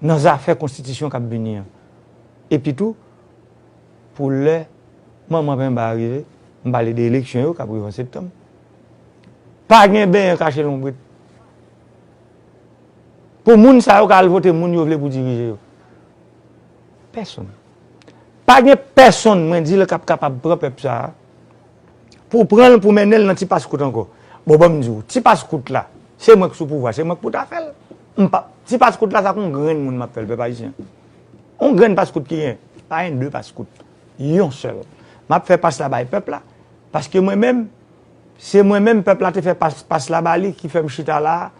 nan zafè konstitisyon k ap vini an. Epi tou, pou lè manman penba a rive, m pale de eleksyon yo k ap rive an septanm, pa gen benyen kache lonbrit. Pou moun sa yo ka al vote moun yo vle pou dirije yo. Pèsonn. Pa gen pèsonn mwen di l k ap kapab pran pèp sa a. pou w pran l pou w mennen l nan ti paskout ankò. Bon ban m di w, ti paskout la, se mwen k sou pouvwa, se mwen k pou ta fè l. M pa, ti paskout la se ak yon grenn moun m ap fè l pèp ayisyen. Yon grenn paskout ki gen, pa gen de paskout, yon sèl. M ap fè pas la bay pèp la, paske mwen menm, se mwen menm pèp la te fè pas la ba li ki fè m chita la a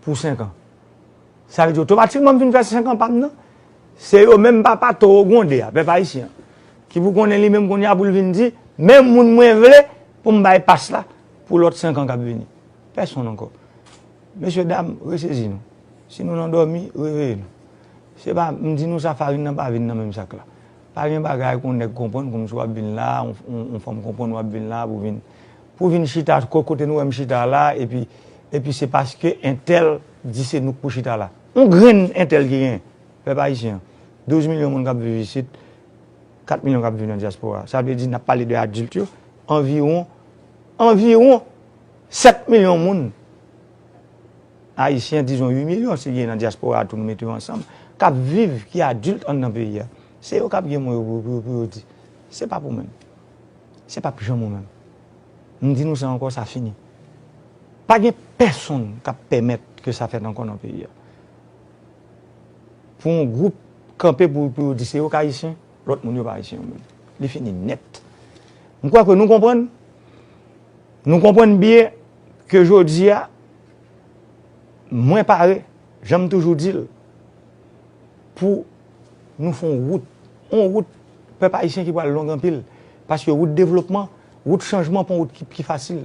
pou senkan. Sa vle di otomatikman m fin fè senkan pa m nan. Se yo menm papa towo gwonde a, pèp ayisyen an, ki pou konnen li menm kounye a pou l vin di, men moun mwen vle pou m bay pas la pou lòt 5 an k ap vini. Pèsonn ankò. Mesye dam, resezi nou. Si nou nan dòmi, reveye nou. Se pa, m di nou sa farin nan pa vin nan menm sak la. Pa gen bagay pou yon nèg konprann kòm si w ap vin la, yon fanm konprann w ap vin la pou vin, pou vin chita kote nou wè m chita la epi, epi se paske entèl di se nou k pou chita la. On grenn entèl ki gen, pèp ayisyen, 12 milyon moun k ap viv isit, 4 milyon k ap viv nan dyaspora. Sa vle di, n ap pale de adilt yo, anviwon, anviwon 7 milyon moun, ayisyen, dizon 8 milyon si gen nan dyaspora a tou nou mete yo ansanm, k ap viv, ki adilt anndan peyi a. Se yo k ap gen mo yo pou yo di. Se pa pou mwen. Se p ap janm ou menm. M di nou sa ankò, sa fini. Pa gen pèsonn k ap pèmèt ke sa fèt ankò nan peyi a. Pou yon gwoup kanpe pou yo di se yo k Ayisyen, lòt moun yo pa Ayisyen yo menm. Li fini nèt. M kwè ke nou konprann, nou konprann byen ke jodi a, mwen pare, jan m toujou di l, pou nou fè yon wout, yon wout pèp Ayisyen ki pral long anpil, Paske wout devlopman, wout chanjman pon wout ki pi fasil.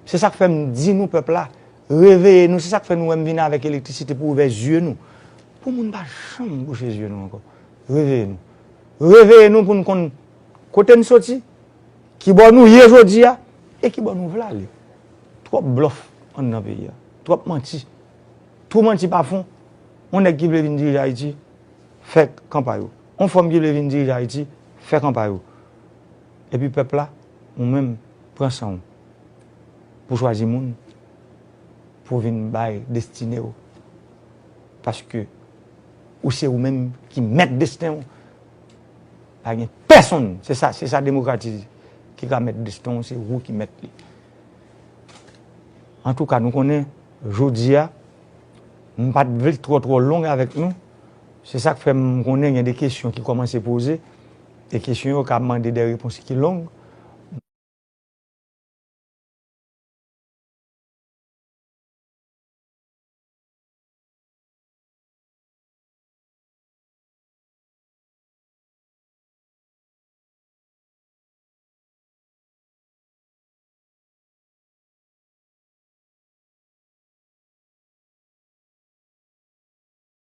Se sak fè m di nou pèp la, reveye nou, se sak fè nou wè m vin avèk elektrisite pou ouvè zye nou. Pou moun pa janm bouche zye nou ankò. Reveye nou. Reveye nou pou n konn kote n soti, ki bò nou ye jodi a, e ki bò nou vle ale. Twòp blòf anndan peyi a. Twòp manti. Twou manti pa fon. On nèg ki vle vin dirije Ayiti, fè kanpay ou. On fanm ki vle vin dirije Ayiti fè kanpay ou epi pèp la ou menm pran san ou pou chwazi moun pou vin bay destine ou paske ou se ou menm ki mèt desten ou pa gen pèsonn se sa se sa demokrati di ki ka mèt desten ou se ou ki mèt li antouka nou konnen jodia m pat vle twò twò long avèk nou. Se sa k fè m konnen gen de kesyon ki kòmanse poze, e kesyon yo ka mande de repons ki long.